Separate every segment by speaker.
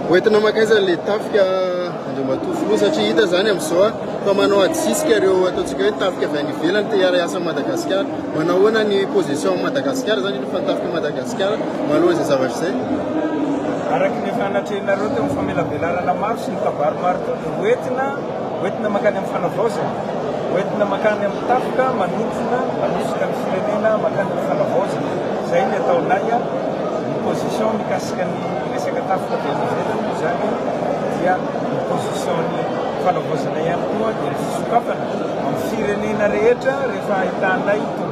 Speaker 1: Hoentina
Speaker 2: makaiza le tafika Andriamatoa Filoha satria hita zany amin'izao fa manao adisisika ireo ataontsika hoe tafika avy any ivelany te hiara-hiasa amin'i Madagasikara. Manao ahoana ny position amin'i Madagasikara zany efa tafika Madagasikara. Tsika maloha izay zavatra izay. Araka
Speaker 1: ny efa natrehinareo teo amin'ny famelabelarana maro sy ny kabary maro teo dia hoentina hoentina mankany amin'ny fanavaozana, hoentina mankany amin'ny tafika manontsona manosika ny firenena mankany amin'ny fanavaozana. Izay ny ataonay a, ny position mikasika ny resaka tafika dia any ivelany moa izany dia ny position-n'ny fanavaozana ihany koa dia ny fisokafana amin'ny firenena rehetra rehefa ahitanay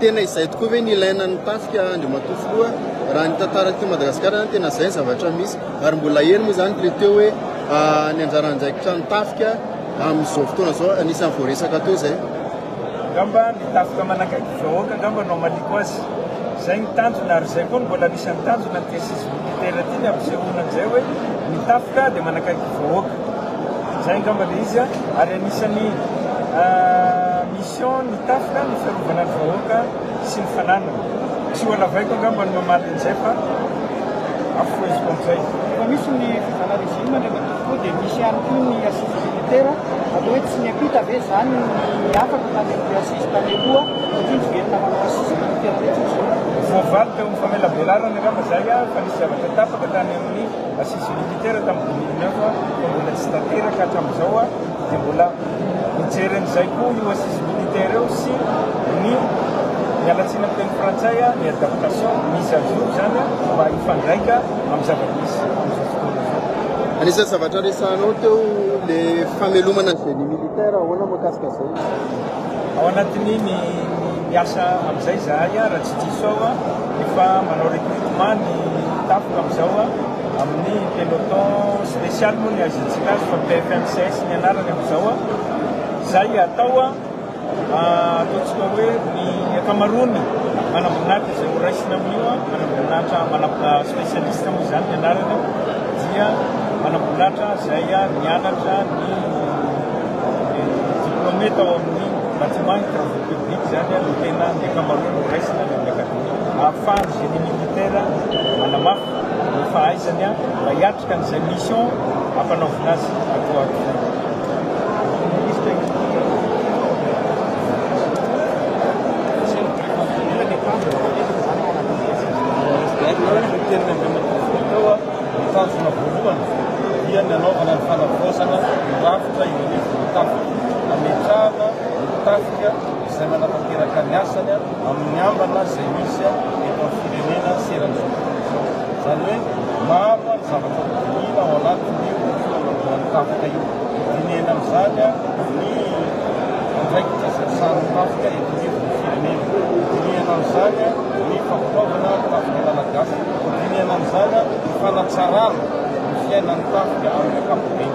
Speaker 2: Tena izay tokoa ve ny ilaina ny tafika Andriamatoa Filoha? Raha ny tantara aty Madagasikara zany tena izay ny zavatra misy ary mbola eny moa zany le teo hoe ny anjara andraikitran'ny tafika amin'izao fotoana zao anisan'ny voaresaka teo zay. Angamba
Speaker 1: ny tafika manakaiky ny vahoaka angamba no hamaliako azy. Izay ny tanjona ary izay koa no mbola anisan'ny tanjona ny tesis militaire ity ny hampisehoana an'izay hoe ny tafika dia manakaiky ny vahoaka. Zay angamba le izy a! Ary anisan'ny mission ny tafika ny fiarovana ny vahoaka sy ny fananany. Tsy ho halavaiko angamba ny mamaly an'izay fa afoheziko am'izay. Efa misy ny
Speaker 3: fizana regime indray mandeha tokoa dia misy ihany koa ny assises militaires, atao hoe tsy niampita ve izany ny afaka tany amin'ny assises tany aloha satria niverina manao assises militaires mihitsy ny zoky. Voavaly teo amin'ny
Speaker 1: famelabelarana angamba izay fa nisy zavatra tafaka tany amin'ny. Assise militaire tam dimy mille neuf fa mbola tsy tanteraka hatramin'izao dia mbola mijery an'izay koa io assise militaire io sy ny miala tsiny amin'ny teny frantsay ny adaptation mise à jour zany mba hifandraika amin'ny zava-misy amin'izao fotoana izao. Anisan'ny zavatra
Speaker 2: resahanao teo le famelomana ny génie militaire, ahoana mikasika zay? Ao
Speaker 1: anatin'ny ny miasa amin'izay zahay. Tsy diso aho a, efa manao recrutement ny tafoka amin'izao a, amin'ny peloton spécial moa ny azontsika azy fa PFMCS ny anarany amin'izao a. Izay atao a, ataontsika hoe ny ankamaroany manamboninahitra izay horaisina amin'io a, manamboninahitra, manamb-, spécialiste moa izany ny anarany, dia manamboninahitra izay nianatra ny diplômé tao amin'ny bâtiment hydraulique. Public zany no tena ny ankamaroany no raisina any amin'ny akademia. Ahafahan'ny génie militaire manamafy ny fahaizany mba hiatrika an'izay mission ampanaovina azy aty ho aty
Speaker 4: izany. Ny tafika izay manatanteraka ny asany amin'ny ambana izay misy eto amin'ny firenena sy eran'izao tontolo izao. Izany hoe maro ny zavatra hodinihina ao anatin'io fanangoan'ny tafika io. Dinihina amin'izany ny andraikitra izay sahanin'ny tafika eto anivon'ny firenena. Dinihina amin'izany ny fampitomboana ny tafika malagasy. Dinihina amin'izany ny fanatsarana ny fiainan'ny tafika amin'ny ankapobeny.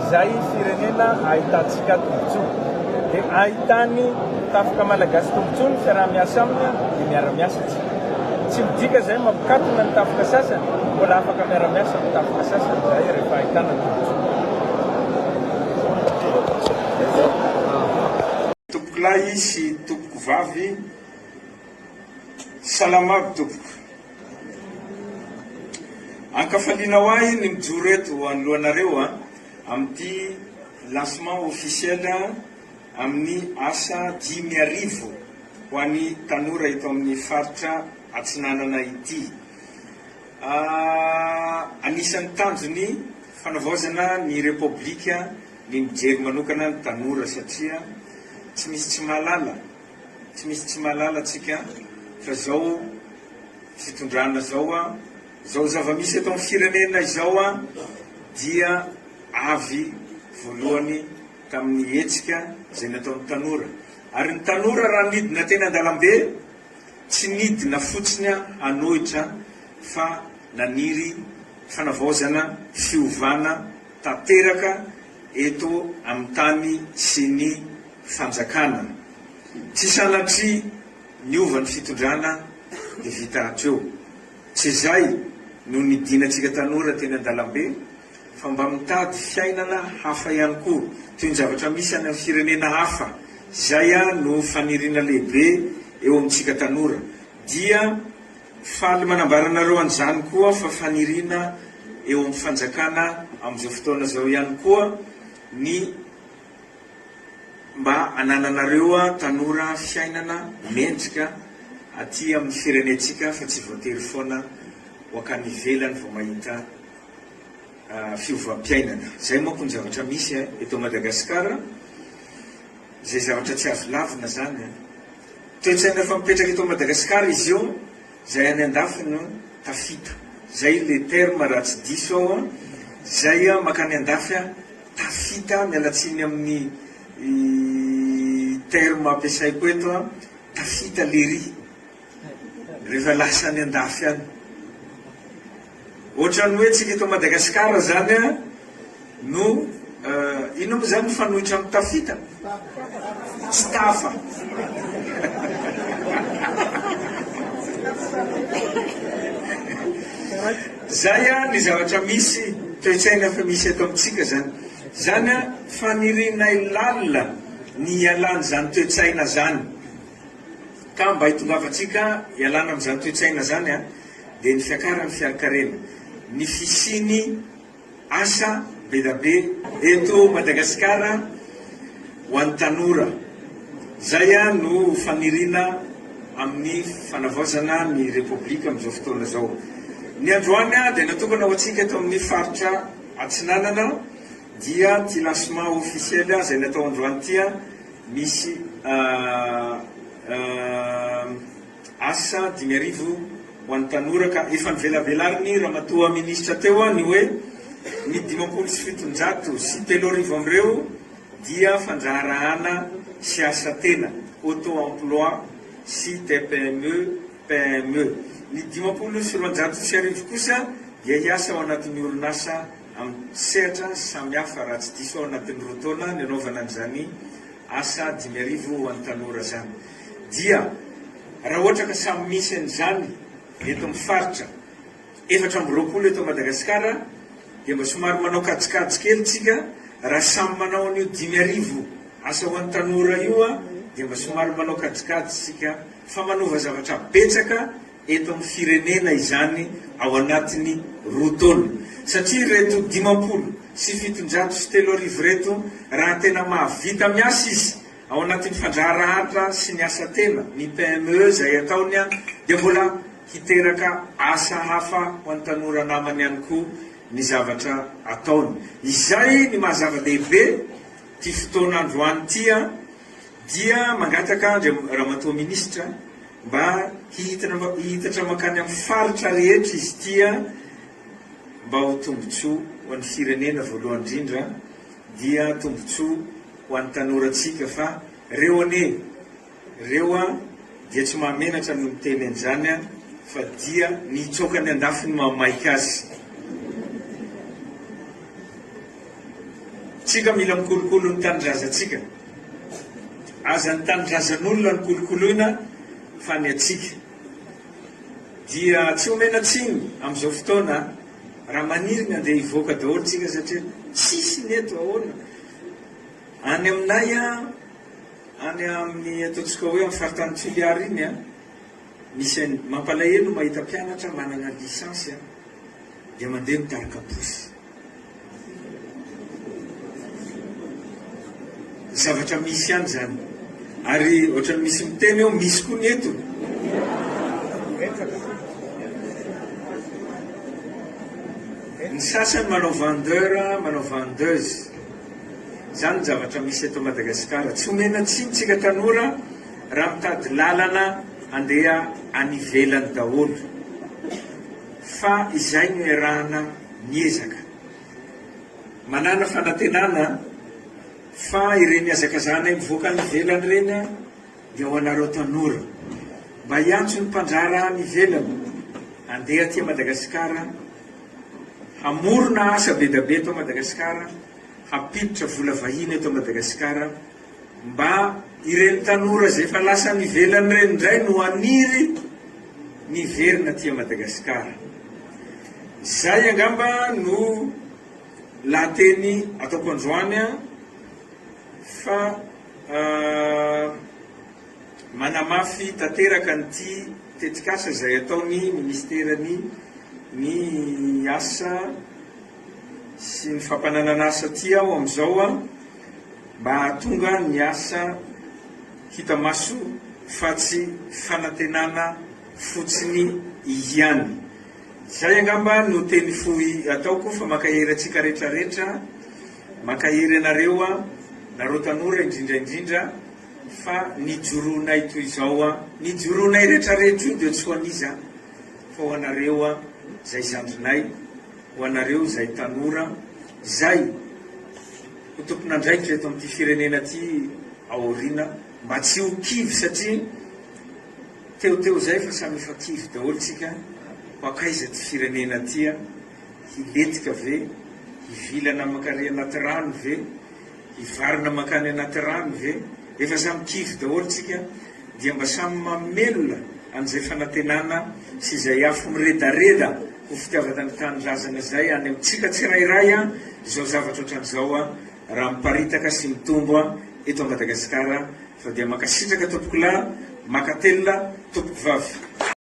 Speaker 1: Izay firenena ahitantsika tombontsoa dia ahitan'ny tafoka malagasy tombontsoa ny fiaraha-miasa aminy dia miara-miasa isika. Tsy midika izay mampikatona ny tafoka sasany, mbola afaka miara-miasa amin'ny tafoka sasany izahay rehefa ahitana tombontsoa. Tompokolahy sy tompokovavy, Salama aby tompoko. Ankafalianao ahy ny mijoro eto anoloanareo amin'ity lancement officiel amin'ny asa dimy arivo ho an'ny tanora eto amin'ny faritra Atsinanana ity. Anisan'ny tanjon'ny fanavaozana ny Repoblika ny mijery manokana ny tanora satria tsy misy tsy mahalala Tsy misy tsy mahalala tsika fa zao fitondrana zao an, zao zavamisy eto am firenena izao an dia avy voalohany tamin'ny hetsika izay nataon'ny tanora. Ary ny tanora raha nidina teny andalambe tsy nidina fotsiny an hanohitra fa naniry fanavaozana, fiovana tanteraka. eto amin'ny tany sy ny fanjakana. Tsy sanatria niova ny fitondrana dia vita hatreo. Tsy izay no nidinantsika tanora teny an-dalambe fa mba mitady fiainana hafa ihany koa toy ny zavatra misy any amin'ny firenena hafa. Izay no faniriana lehibe eo amintsika tanora dia Faly manambara anareo an'izany koa fa faniriana eo amin'ny fanjakana amin'izao fotoana izao ihany koa ny mba anananareo tanora fiainana mendrika aty amin'ny firenentsika fa tsy voatery foana ho hankany ivelany vao mahita fiovam-piainana. Izay manko ny zavatra misy eto Madagasikara. Izay zavatra tsy azo lavina izany an! Toetsaina efa mipetraka eto Madagasikara izy io, izay any andafy no tafita. Izay le terme raha tsy diso aho an! Izay makany andafy an, tafita, miala tsiny amin'ny terme ampiasaiko eto an, tafita lery. Rehefa lasa any andafy any. Ohatran'ny hoe tsika eto Madagasikara zany no inona moa zany mifanohitra amin'ny tafita? Tsy tafa. Zay a ny zavatra misy toe-tsaina fa misy eto amintsika zany. Zany a fanirinay lalina ny hialan'izany toe-tsaina zany. Ka mba hitongavantsika hialana amin'izany toe-tsaina izany dia ny fiakaran'ny fiarikarena, ny fisian'ny asa bedabe eto Madagasikara ho an'ny tanora. Izay no faniriana amin'ny fanavaozana ny Repoblika amin'izao fotoana izao. Ny androany dia natokana ho antsika eto amin'ny faritra Atsinanana. dia ty lancement officiel zay natao androany ty an misy asa dimy arivo ho an'ny tanora ka efa novelabelarin'ny ramatoa ministra teo an ny hoe ny dimampolo sy fitonjato sy telo arivo amin'ireo dia fandraharahana sy asa tena, auto emploi, sy tpme, PME. Ny dimampolo sy roanjato sy arivo kosa dia hiasa ao anatin'ny orinasa. amin'ny sehatra samihafa raha tsy diso aho anatin'ny roa taona nanaovana an'izany asa dimy arivo ho an'ny tanora izany dia raha ohatra ka samy misy an'izany eto amin'ny faritra efatra amby roapolo eto Madagasikara dia mba somary manao kajikajy kely tsika raha samy manao an'io dimy arivo asa ho an'ny tanora io dia mba somary manao kajikajy tsika fa manova zavatra betsaka eto amin'ny firenena izany ao anatin'ny roa taona satria ireto dimampolo sy fitonjato sy telo arivo ireto raha tena mahavita miasa izy ao anatin'ny fandraharahatra sy ny asa tena, ny PME izay ataony dia mbola hiteraka asa hafa ho an'ny tanora namany ihany koa ny zavatra ataony. Izay ny maha zava-dehibe ity fotoana androany ity dia mangataka an-dry Ramatoa Minisitra mba hihitatra mankany amin'ny faritra rehetra izy ity mba ho tombontsoa ho an'ny firenena voalohany indrindra dia tombontsoa ho an'ny tanorantsika fa reo anie reo dia tsy mahamenatra ny miteny an'izany fa dia ny hitsoaka ny andafy no mahamaika azy. Tsika mila mikolokolo ny tanindrazantsika. Azan'ny tanindrazan'olona no kolokoloina fa ny antsika dia tsy omena tsiny amin'izao fotoana raha maniry ny handeha hivoaka daholo tsika satria tsisy ny eto ahoana any aminay a any amin'ny ataontsika hoe amin'ny faritany Toliara iny a misy any mampalahelo mahita mpianatra manana lisansy a dia mandeha mitarika posy Zavatra misy ihany izany. Ary ohatran'ny misy miteny eo, misy koa ny eto. Ny sasany manao vendeur, manao vendeuse. Izany ny zavatra misy eto Madagasikara. Tsy omena tsiny tsika tanora raha mitady lalana handeha any ivelany daholo. Fa izay no iarahana. miezaka. Manàna fanantenana fa ireny hazakazahanay mivoaka any ivelany ireny dia ho anareo tanora. Mba hiantso ny mpandraharaha any ivelany handeha aty Madagasikara hamorona asa be dia be eto Madagasikara, hampiditra vola vahiny eto Madagasikara. Mba ireny tanora izay efa lasa any ivelany ireny indray no haniry ny hiverina aty Madagasikara. Izay angamba no lahateny ataoko androany an, fa manamafy tanteraka an'ity tetikasa izay ataon'ny Ministeran'ny ny Asa sy ny Fampananana Asa aty aho amin'izao an, mba hahatonga ny asa hita maso fa tsy fanantenana fotsiny ihany. Izay angamba no teny fohy ataoko fa mankahery antsika retraretra, mankahery anareo nareo tanora indrindra indrindra fa ny joroanay toy izao, ny joroanay retraretra io dia tsy ho an'iza fa ho anareo izay zandrinay, Ho anareo izay tanora, izay ho tompon'andraikitra eto amin'ity firenena ity aoriana, mba tsy ho kivy satria teo teo izay fa samy efa kivy daholo tsika, ho hankaiza ity firenena ity an? Hilentika ve? Hivilana aman-kary anaty rano ve? Hivarina mankany anaty rano ve? Efa samy kivy daholo tsika dia mba samy mamelona an'izay fanantenana sy izay afo miredareda ho fitiavana ny tanindrazana izay any amintsika tsirairay izao zavatra ohatran'izao raha miparitaka sy mitombo eto Madagasikara fa dia mankasitraka tompokolahy, makatelina tompokovavy.